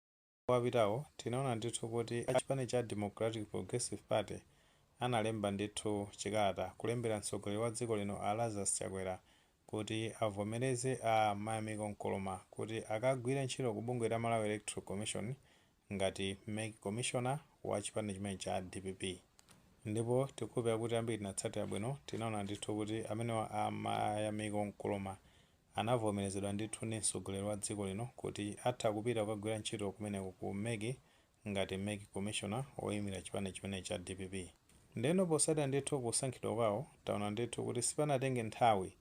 Masiku apitawo tinaona ndithu kuti a chipani cha Democratic Progressive Party analemba ndithu chikalata kulembera mtsogoleri wa dziko lino a Lazarus Chakwera kuti avomereze a Mayamiko Nkoloma kuti akagwire ntchito ku bungwe la Malawi Electoral Commission ngati mec commissioner wa chipani chimenechi cha dpp. Ndipo tikukhulupirira kuti ambiri tinatsatira bwino tinaona ndithu kuti amenewa a Mayamiko Nkoloma anavomerezedwa ndithu ndi mtsogoleri wa dziko lino kuti atha kupita kukagwira ntchito kumeneko ku mec ngati mec commissioner woimira chipani chimenechi cha dpp. Ndeno potsatira ndithu kusankhidwa kwawo, taona ndithu kuti sipanatenge nthawi,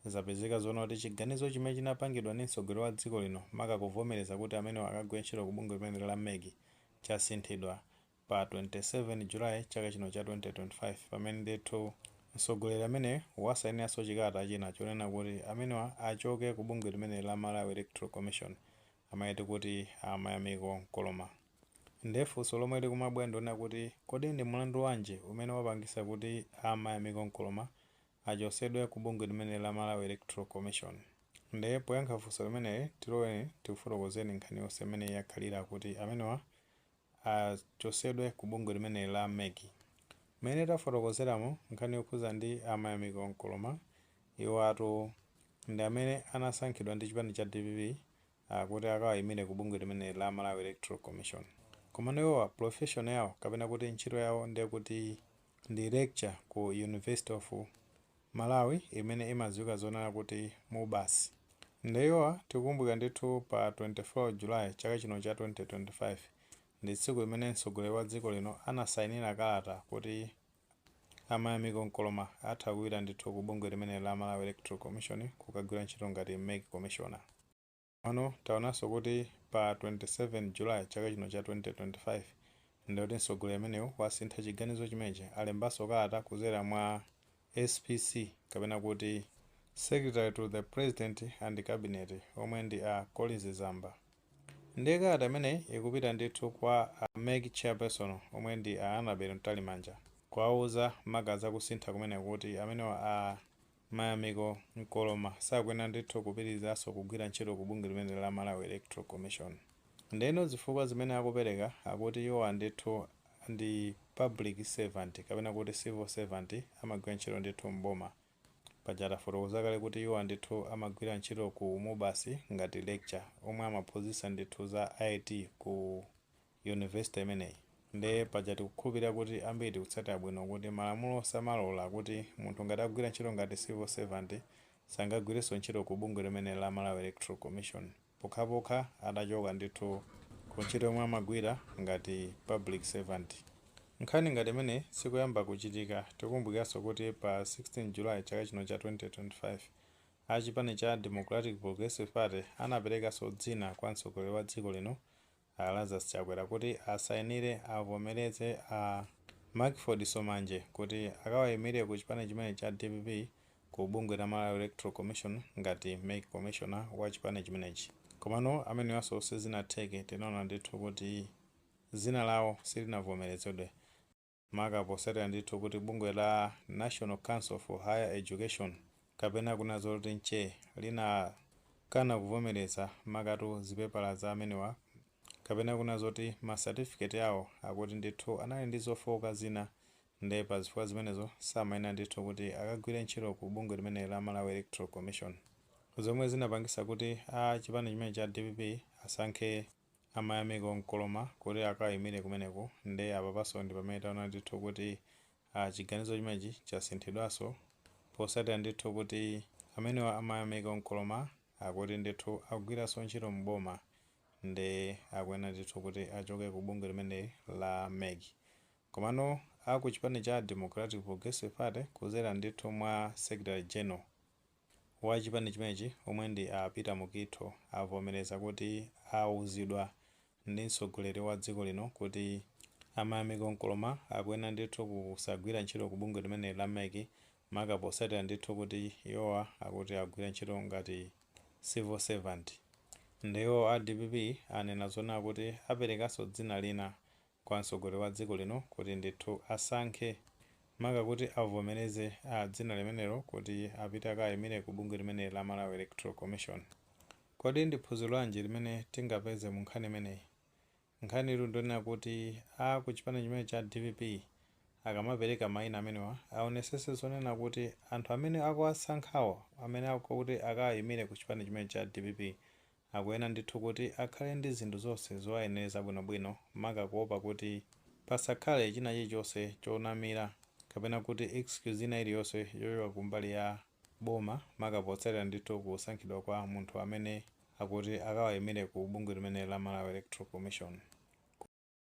zapezeka zoona kuti chiganizo chimene chinapangidwa ndi mtsogoleri wa dziko lino maka kuvomereza kuti amenewa akagwire ntchito ku bungwe limeneli la mec chasinthidwa pa 27 July chaka chino cha 2025 pamene ndithu mtsogoleri ameneyu wasainiranso chikalata china chonena kuti amenewa achoke ku bungwe limeneli la Malawi Electoral Commission amene tikuti a Mayamiko Nkoloma. Ndiye funso lomwe likumabwera ndilonena kuti kodi ndi mlandu wanji umene wapangitsa kuti a Mayamiko Nkoloma achotsedwe ku bungwe limeneli la Malawi Electoral Commission? Ndiye poyankha funso limeneli tiloleni tikufotokozereni nkhani yonse mmene yakhalira kuti amenewa achosedwe ku bungwe limeneli la mec. Mmene tafotokozeramo nkhani yokhuza ndi a Mayamiko Nkoloma iwatu ndi amene anasankhidwa ndi chipani cha dpp kuti akawayimire ku bungwe limeneli la Malawi Electoral Commission. Komano iwowa profession yawo kapena kuti ntchito yawo ndekuti ndi lecturer ku University of Malawi imene imadziwika zonena kuti MUBAS nde iwowa tikukumbukira ndithu pa 24 July chaka chino cha 2025 ndi tsiku limene mtsogoleri wa dziko lino anasainira kalata kuti a Mayamiko Nkoloma atha kupita ndithu ku bungwe limeneli la Malawi Electoral Commission kukagwira ntchito ngati mec Commissioner. Komano taonanso kuti pa 27 July chaka chino cha 2025 ndikuti mtsogoleri ameneyu wasintha chiganizo chimenechi, alembanso kalata kudzera mwa SPC kapena kuti Secretary to the President and Cabinet omwe ndi a Colleen Zamba. Ndiye kalata imeneyi ikupita ndithu kwa a mec Chairperson omwe ndi a Annabel Mtalimanja kuwauza maka za kusintha kumeneku kuti amenewa a. Mayamiko Nkoloma sakuyenera ndithu kupitirizanso kugwira ntchito ku bungwe limeneli la Malawi Electoral Commission. Ndeno zifukwa zimene akupereka akuti iwowa ndithu ndi public servant kapena kuti civil servant amagwira ntchito ndithu m'boma. Paja tafotokoza kale kuti iwowa ndithu amagwira ntchito ku MUBAS ngati lecturer omwe amaphunzitsa ndithu za IT ku. university imeneyi. Nde paja tikukhulupirira kuti ambiri tikutsatira bwino kuti malamulo samalola kuti munthu ngati akugwira ntchito ngati civil servant sangagwirenso ntchito ku bungwe limeneli la Malawi Electoral Commission pokhapokha atachoka ndithu ku ntchito yomwe amagwira ngati public servant. Nkhani ngati imeneyi sikoyamba kuchitika. Tikukumbukiranso kuti pa 16 July chaka chino cha 2025, a chipani cha Democratic Progressive Party anaperekanso dzina kwa mtsogoleri wa dziko lino A Lazarus Chakwera kuti asayinire avomereze a Mackford Somanje kuti akawayimire ku chipani chimenechi cha dpp ku bungwe la Malawi Electoral Commission ngati mec commissioner wa chipani chimenechi. Komano amenewanso sizinatheke, tinaona ndithu kuti dzina lawo silinavomerezedwe. maka posatira ndithu kuti bungwe la National Council for Higher Education, kapena kunena zoti nche, linakana kuvomereza makatu zipepala za amenewa, kapena kunena zoti ma certificate awo akuti ndithu anali ndi zofooka zina, nde pa zifukwa zimenezo samayenera ndithu kuti akagwire ntchito ku bungwe limeneli la Malawi Electoral Commission, zomwe zinapangitsa kuti a chipani chimenechi cha dpp asankhe. a Mayamiko Nkoloma kuti akayimile kumeneko nde apapaso ndipamene taona ndithu kuti chiganizo chimenechi chasinthidwaso posatila ndithu kuti amenewa a Mayamiko Nkoloma akuti ndithu akugwiraso ntchito mu boma nde akuyenera ndithu kuti achoke ku bungwe limeneli la mec komano a ku chipani cha Democratic Progressive Party kuzera ndithu mwa secretary general wa chipani chimenechi omwe ndi a Peter Mukitho avomereza kuti auzidwa ndi mtsogoleri wa dziko lino kuti a Mayamiko Nkoloma akuyenera ndithu kusagwira ntchito ku bungwe limeneli la mec maka potsatira ndithu kuti iwowa akuti akugwira ntchito ngati civil servant. Nde iwo a dpp anena zonena kuti aperekanso dzina lina kwa mtsogoleri wa dziko lino kuti ndithu asankhe maka kuti avomereze a dzina limenelo kuti apite akaimire ku bungwe limeneli la Malawi Electoral Commission. Kodi ndi phunziro lanji limene tingapeze mu nkhani imeneyi? Nkhanitu ndionena kuti a ku chipani chimene cha dpp akamapereka maina amenewa aonesese zonena kuti anthu amene akuwasankhawo amene akuti akawaimire ku chipani chimene cha dpp Akuyenera ndithu kuti akhale ndi zinthu zonse zowayenereza bwinobwino, maka kuopa kuti pasakhale china chilichonse chonamira kapena kuti excuse ina iliyonse yochoka ku mbali ya boma maka potsatira ndithu kusankhidwa kwa munthu amene akuti akawayimire ku bungwe limeneli la Malawi Electoral Commission. Ku.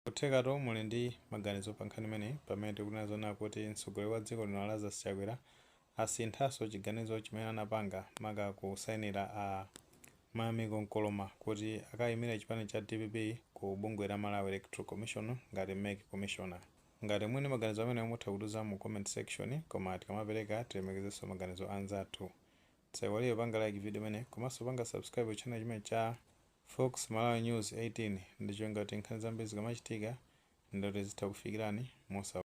Nkuthekatu muli ndi maganizo pa nkhani imeneyi pamene tikunena zonena kuti mtsogoleri wa dziko lino a Lazarus Chakwera asinthanso chiganizo chimene anapanga maka kusainira a Mayamiko Nkoloma kuti akayimire chipani cha dpp ku bungwe la Malawi Electoral Commission ngati mec commissioner. Ngati muli ndi maganizo amenewo mutha kutiuza mu comment section koma tikamapereka tilemekezenso maganizo a anzathu Tisaiwale kupanga like video imeneyi komanso kupanga subscribe ku channel chimenechi cha Fox Malawi News 18 ndi cholinga choti nkhani zambiri zikamachitika ndi kuti zithe kukufikirani mosavuta.